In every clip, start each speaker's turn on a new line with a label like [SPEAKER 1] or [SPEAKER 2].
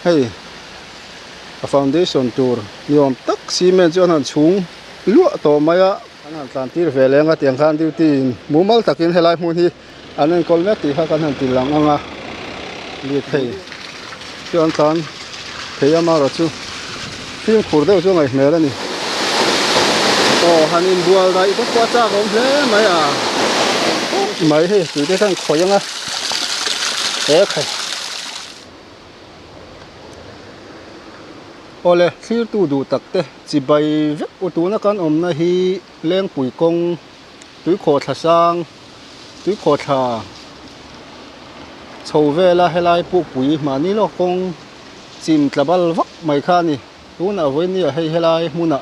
[SPEAKER 1] Hei a foundation tur ni awm tak cement chu a hna'n chhung luah tawh mai a. An han tlantir ve leng a tiang khan duty in mumal takin helai hmun hi an enkawl mek tih kha kan han ti lang ang a. Lirthei chuan tlan thei a mara chu fimkhur deuh chu a ngaih hmel a ni. Aw han inbual daih bawk pawh a chak awm hle mai a. Mai hi tute khan khawih ang a. He khai. Awle, thlirtu duh tak te, chibai vek u tuna kan awmna hi Lengpui kawng, Tuikhaw thla sang, Tuikhaw thla chho vela helai Pukpui mahni lawk kawng chim tla bal vak mai kha a ni. Tunah vawinia hei helai hmuna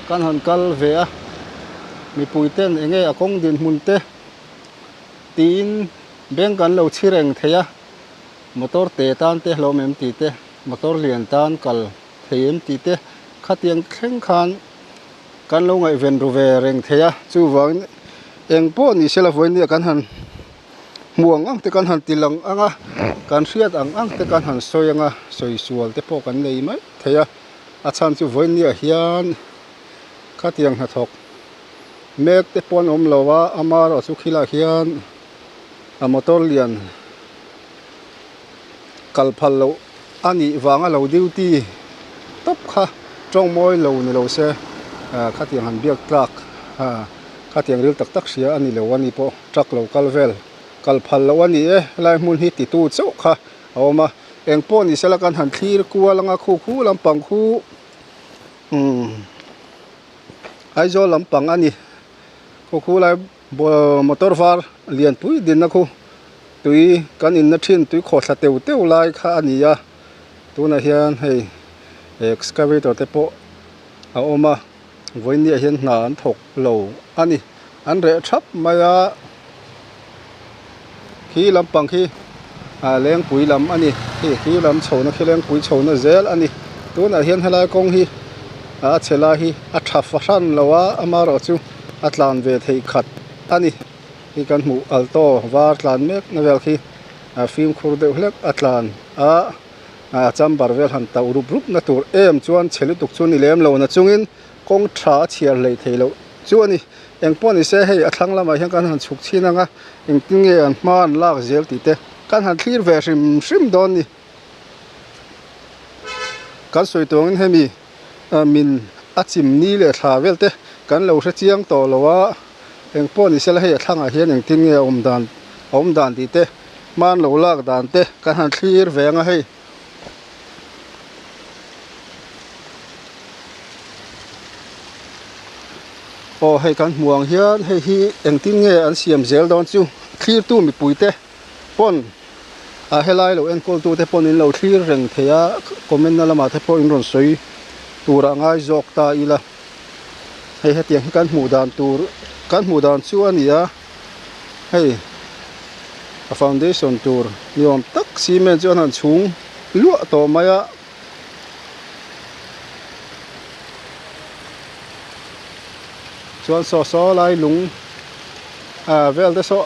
[SPEAKER 1] kan han kal ve a, mipui ten enge a kawng dinhmun te tiin beng kan lo chhi reng thei a. Motor te tan te hlawm em tih te, motor lian tan kal thei em tih te khatiang thleng khan kan lo ngaihven ru ve reng thei a. Chuvangin eng pawh ni sela vawi nia kan han hmu ang ang te, kan han til ang ang a, kan hriat ang ang te, kan han sawi ang a, sawi sual te pawh kan nei mai thei a. A chhan chu vawi niah hian khatiang hnathawk mek te pawh an awm lo a, amarawhchu khilaiah hian. A motor lian kal phal loh a nih vang a lo duty tawp kha tawng mawi lo ni lo se khatiang han biak truck khatiang ril tak tak hria a ni lo a ni pawh truck lo kal vel kal phal loh a ni e helai hmun hi ti tu chauh kha a awm a eng pawh ni se la kan han thlir kual anga khu khu lampang khu umm Aizawl lampang a ni khu khu lai-- Motor var lian pui dinna khu tui kan inna thin tui khawh thla teuh teuh lai kha a ni a tunah hian hei excavator te pawh a awm a vawinia hian hna an thawk lo a ni an reh thap mai a. khi lampang khi ah lengpui lam a ni khi khi lam chhohna khi lengpui chhohna zel a ni tunah hian helai kawng hi a chhe lai hi a tha fahran lo a ama rawh chu a tlan ve thei khat a ni khi kan hmuh alto var tlan mek na vel khi ah fimkhur deuh hlek a tlan a ah chamber vel han tauh rup rup na tur em chuan chhe lutuk chu ni lem lo na chungin-- kawng tha a chhiar hleih theih loh chu a ni. Eng pawh ni se hei a thlang lamah hian kan han chhuk chhin ang a, engtin nge an hma an lak zel tih te kan han thlir ve hrim hrim dawn ni. Kan sawi tuangin hemi min a chim ni leh thla vel te kan lo hre chiang tawh lo a, eng pawh ni se la hei a thlangah hian engtin nge a awm dan a awm dan tih te hma an lo lak dan te kan han thlir ve ang a hei. aw hei kan hmuh ang hian hei hi engtin nge an siam zel dawn chu thlir tu mipui te pawn ah helai lo enkawl tute pawn in lo thlir reng thei a comment na lamah te pawh in rawn sawi tur a ngai zawk ta ila hei hetiang hi kan hmuh dan tur kan hmuh dan chu a ni a. hei a foundation tur ni awm tak cement chuan han chhung luah tawh mai a chuan saw saw lai lung ah vel te saw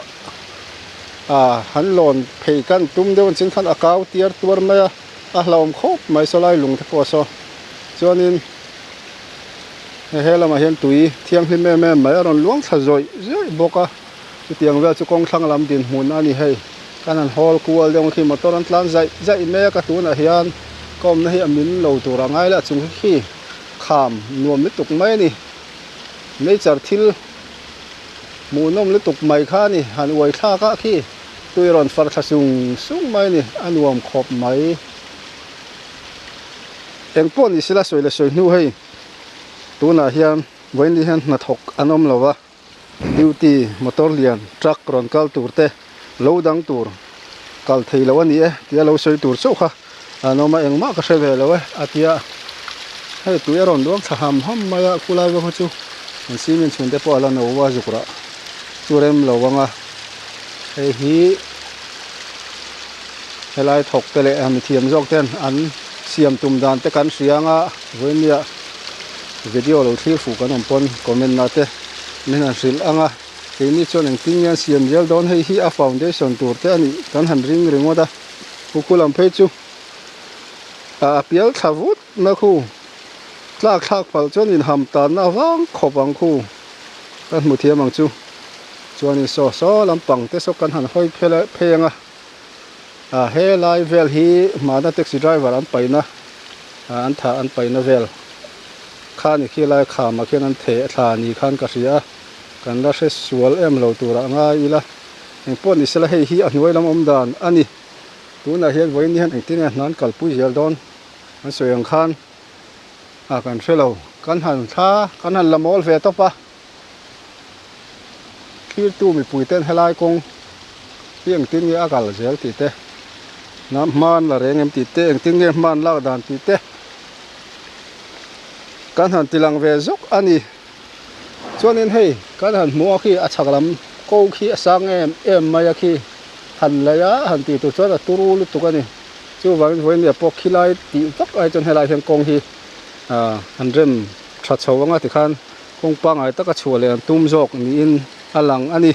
[SPEAKER 1] ah han lawn phei kan tum deuh ang chin khan a kau tiar tuar mai a a hlawm khawp mai saw lai lung te pawh saw chuanin-- he lamah hian tui thianghlim em em mai a rawn luang thla zawih zawih bawk a chutiang vel chu kawng thlang lam dinhmun a ni hei khan an haul kual daih ang khi motor an tlan zaih zaih mek a tunah hian ka awmna hi a min lo tur angai le a chung hi khi kham nuam lutuk mai a ni hmeichhar thil hmuh nawm lutuk mai kha a ni han uai thlak a khi tui a rawn far thla sung sung mai a ni a nuam khawp mai. Eng pawh ni sela sawi leh sawi hnu hei tunah hian vawiinlih hian hnathawk an awm lo a, duty motor lian, truck rawn kal tur te lo dang tur kal thei lo a ni e tia lo sawi tur chauh kha an awm a, engmah ka hre ve lo e a tia hei tui a rawn luang thla ham ham mai a, khulai vanga chu an cement chhun te pawh a la no a zuk rah chu rem lo ang a, hei hi. Helai thawk te leh mithiam zawk ten an siam tum dan te kan hria anga Vawinia video lo thlir fuh kan awm pawn comment ah te min han hrilh anga keini chuan engtin nge an siam zel dawn hei hi a foundation tur te anih kan han ring ringawt a pu khulam phei chu a pial thla vut. Na khu tlak thlak palh chuan inham tanna vang khawp ang khu kan hmu thiam ang chu. Chuanin saw saw lampang te saw kan han hawi phel a pheng a. A helai vel hi mahna taxi driver an paina an thah an paina vel kha ni khi lai khama khian an theh thla ni khan ka hria kan la hre sual em lo tur a ngai ila eng pawh ni sela hei hi a hnuai lam awm dan a ni. Tunah hian vawiin hian engtin nge hnan kalpui zel dawn. Kan sawi ang khan a kan hre lo, kan han thla kan han la mawl ve tawp a, thirtu mipui ten helai kawng hi engtin nge a kal zel tih te, hnam hman la reng em tih te, engtin nge hman lak dan tih te kan han tilang ve zuk a ni. Chuanin hei kan han hmuh khi a chhak lam ko khi a sang em em mai a khi han lei a han tih tur chuan a turu lutuk a ni. Chu vangin Vawinia pawh khi lai tih vak ai chuan helai hian kawng hi han rem tha chho anga tikhan kawng pangngai taka chhuah leh an tum zawk niin a lang a ni.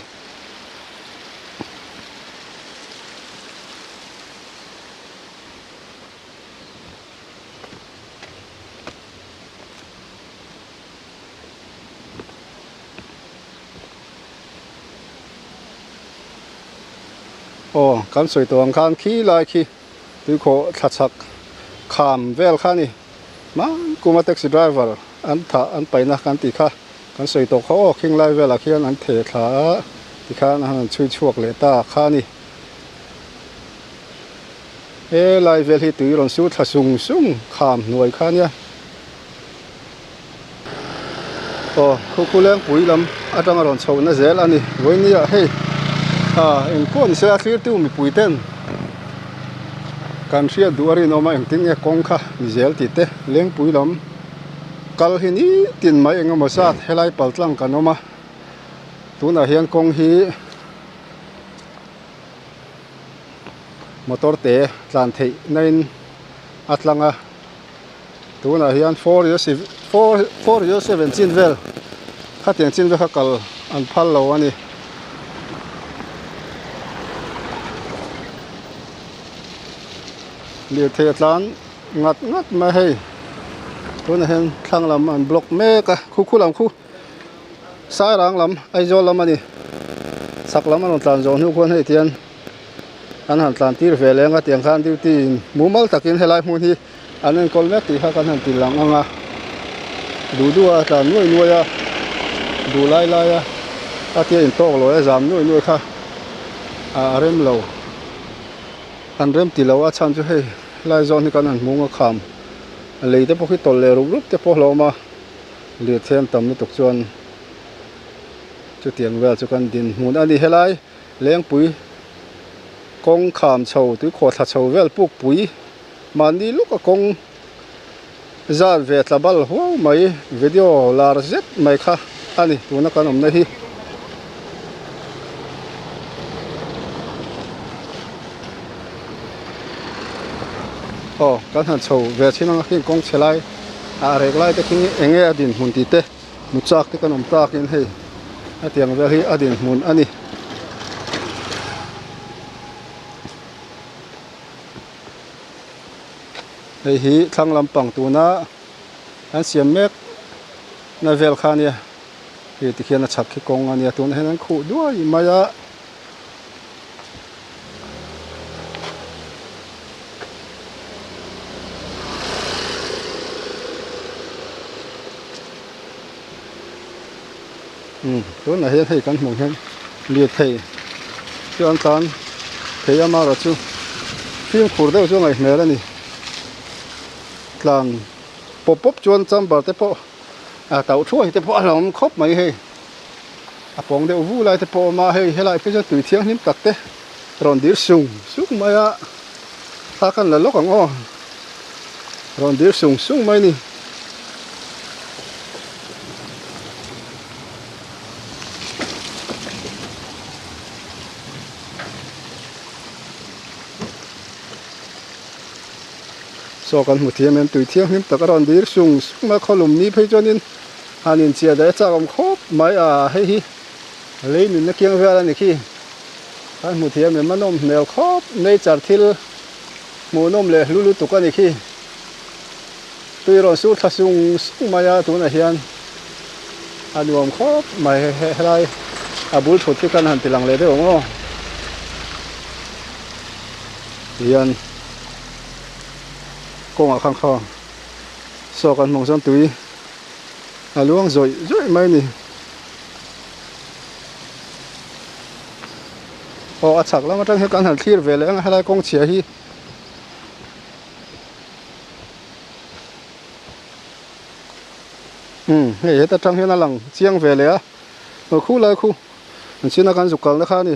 [SPEAKER 1] aw kan sawi tawh ang khan khi lai khi tuikhawh thla chhak kham vel kha a ni hmang kung a taxi driver an thah an paihna kan tih kha kan sawi tawh kha aw khing lai velah khian an theh thla a ti khan a han rawn chhui chhuak leh ta kha a ni helai vel hi tui rawn su thla sung sung kham hnuai kha nia. aw khukhuleng pui lam atanga rawn chho na zel ani vawinia hei ah engkuah ni se a thlir tiu mipui ten kan hriat duh a rinawm a engtin nge kawng kha ni zel ti te lengpui lam kal hi nitin mai engemaw zat helai paltlang kan awm a tunah hian kawng hi motor te tlan theih na in a tlang a. tunah hian four ila seven four ila seven chin vel khatiang chin vel kha kal an phal lo a ni lirthei atlan ngat ngat mai hei tunah hian thlang lam an block mek a khu khu lam khu sairang lam aizawl lam a ni chhak lam a rawn tlan zawh hnu khawn hei tihian-- an han tlantir ve leng a tiang khan duty in mumal takin helai hmun hi an enkawl mek tih kha kan han ti lang ang a duhdu a tlan nuai nuai a duh lai lai a a tia in tawk loh e zam nuai nuai kha a rem lo an rem ti lo a chhan chu hei lai zawn hi kan han hmung a kham a lei te pawh hi tawlh leh rup rup te pawh hlawm a lirthlen tam lutuk chuan chutiang vel chu kan dinhmun a ni helai. Lengpui kawng kham chho tuikhuah thla chho vel puk pui mahni luka kawng zan ve tla bal huau mai video lar zet mai kha a ni tuna kan awmna hi. Aw kan han chho ve thin ang a khi kawng chhe lai a rek lai te khi enge a dinhmun tih te. Muchak te kan awm takin hei hetiang vel hi a din hmun a ni. Hei hi thlang lampang tuna an siam mek na vel kha a nia. Hei tikhian a chhak hi kawng a nia tunah hian an khuh duai mai a. tunah hian hei kan hmuh hian lirthei chuan tan thei ama erawh chu fimkhur deuh chu a ngaih hmel a ni tlan pawp pawp chuan chamber te pawh tauhruai te pawh a lo awm khawp mai hei. a pawng deuh vu lai te pawh a awm a hei helai pawh hi chuan tui thianghlim tak te rawn dir sung sung mai a thla a kan la lawk ang aw rawn dir sung sung mai a ni. Saw kan hmu thiam em tui thianghlim tak a rawn dir sung sung a khaw lum ni phei chuan in. An inchia daih a chak awm khawp mai a, hei hi lei nunna kiang vial a ni khi, kan hmu thiam em a nawm hmel khawp, nature thil hmuh nawm leh hlu lutuk a ni khi, tui rawn sur thla sung sung mai a, tunah hian a nuam khawp mai, he helai a bul thut hi kan han ti lang leh deuh ang aw hian kawngah khan khaw saw kan hmang chuan tui. A luang zawih zawih mai ni. Aw a chhak lam atang hian kan han thlir ve leh ang a helai kawng chhia hi. Umm hei heta tang hian a lang chiang ve leh a. Aw khu lai khu an chhina kan zuk kalna kha a ni.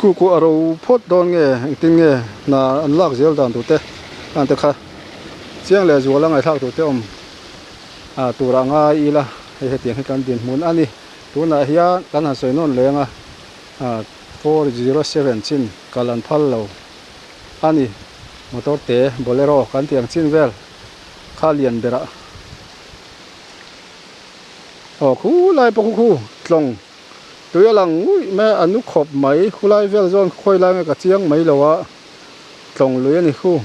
[SPEAKER 1] Kuku a ro phawt dawn nge engtin nge hna an lak zel dan tur te an ti kha chiang leh zual a ngaithlak tur te awm a tur a ngai ila hei hetiang hi kan dinhmun a ni tunah hian kan han sawi nawn leng a four zero seven chin kal an phal lo a ni motor te bolero kan tih ang chin vel kha lian berah aw khulai pawh khukhu tlawng. Tui a lang nguih mai a, a nu khawp mai, khulai vel zawn ka khawi lai mai ka chiang mai lo a, tlawng lui a ni khu.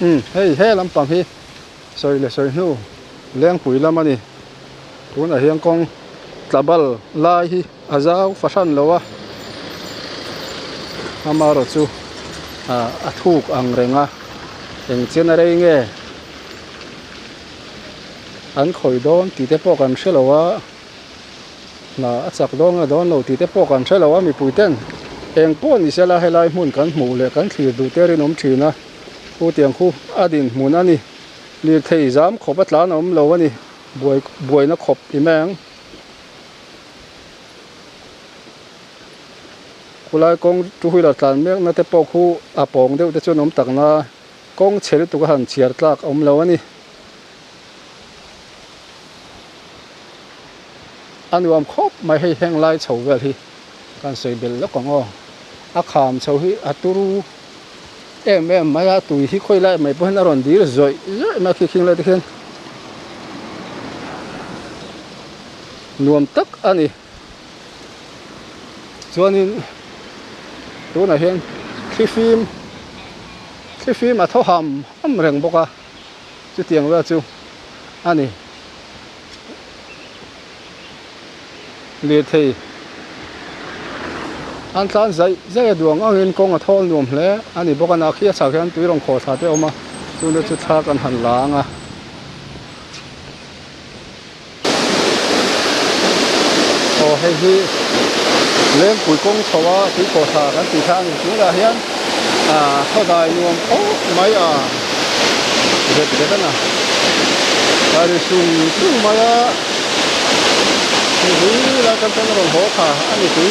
[SPEAKER 1] Umm hei he lampang hi sawi leh sawi hnu Lengpui lam a ni. Tunah hian kawng tla bal lai hi a zau fahran lo a, amarawh chu a thuk ang reng a, eng chian a rei nge an khawi dawn tih te pawh kan hre lo a, hna a chak dawn nge dawn lo tih te pawh kan hre lo a mipui ten, eng pawh ni sela helai hmun kan hmuh leh kan thlir duh te rinawm thin a, Pu Tiangkhu a dinhmun a ni. Lirthei zam khawp a tlan awm lo a ni. Buai buaina khawp i meng. Khulai kawng two wheeler tlan mekna te pawh khu a pawng deuh te chuan awm tak na kawng chhe lutuk a han chhiar tlak awm lo a ni. A nuam khawp mai hei heng lai chho vel hi. Kan sawi belh lawk ang aw. A kham chho hi a turu em em mai a, tui hi khawi lai mai pawh hian a rawn dil zawih zawih mai a khi khing lai te khian nuam tak a ni. Chuanin tunah hian thlifim thlifim a thaw ham ham reng bawk a. chutiang rual chu a ni. Lirthei an tlan zaih zaih a duang angin kawng a thawl nuam hle a ni bawk a, na khi a chhak hian tui rawn khawl thla te a awm a, tuna chu thla kan han la ang a. Aw hei hi Lengpui kawng chho a Tuikawsa kan tih kha a ni chung leh ah hian Khaudai nuam khawp mai a zet zet a na a ri sung sung mai a hei hi lai kan tan rawn haw kha a ni tui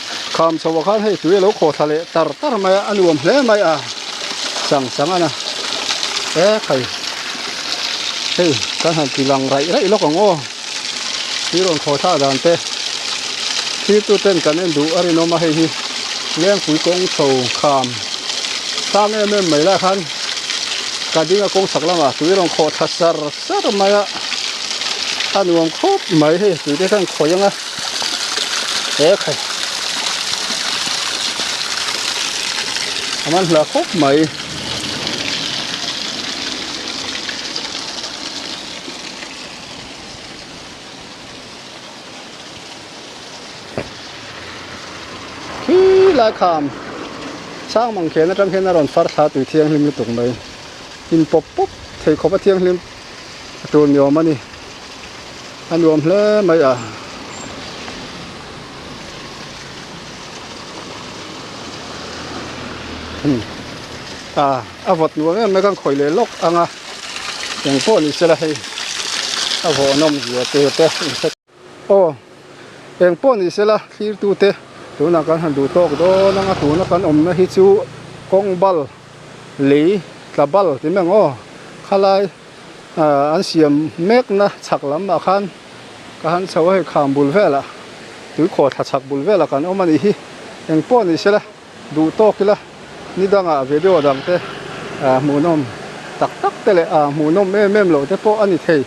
[SPEAKER 1] Kham chhoa khan hei tui a lo khawthla leh tar tar mai a, a nuam hle mai a, chang chang a na e phei hei kan han ti lang raih raih lawk ang aw, thir rawn khawthla dan te thir tu ten kan en duh a rinawm a, hei hi lengpui kawng chho kham sang em em mai lah khan ka ding a kawngchhak lamah tui rawn khawthla sar sar mai a, a nuam khawp mai hei tui te khan khawi ang a. he kha aman hla khawp mai khi lai kham sang mang khian atang khian a rawn far thla tui thianghlim lutuk mai in pawp pawp thei khawpa thianghlim-- a tur ni awm a ni a nuam hle mai a hmm a a vawt nuam em mai a kan khawih leh lawk ang a engpawh ni sela hei a vawnawm zia tur te infection -- Aw, eng pawh ni sela thlirtute, tunah kan han duh tawk dawn ang a, tuna kan awmna hi chu kawng bal lei tla bal ti meng aw, khalai an siam mekna chhak lamah khan ka han chho a, hei kham bul velah, tuikhuah thlachhak bul velah kan awm a nih hi, eng pawh ni sela. Duh tawk ila, ni danga video dangte aa hmuhnawm tak takte leh aa hmuhnawm em em lohte pawh a ni thei.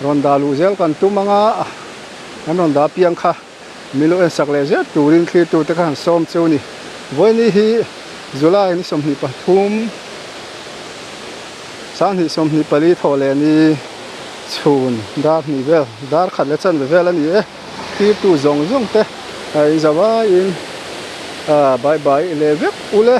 [SPEAKER 1] Rawn dah luh zel kan tum anga an rawn dah apiang kha milu en sak leh zet turin thlirtute kha han sawm che u ni. Vawiini hi July ni sawmhnih pathum sanghnih sawmhnih pali thawh leh ni chhun darhnih vel, darkhat leh chanve vel a ni e. Tirtu zawng zawng te a inzau aiin a bai bai leh vek ulh e.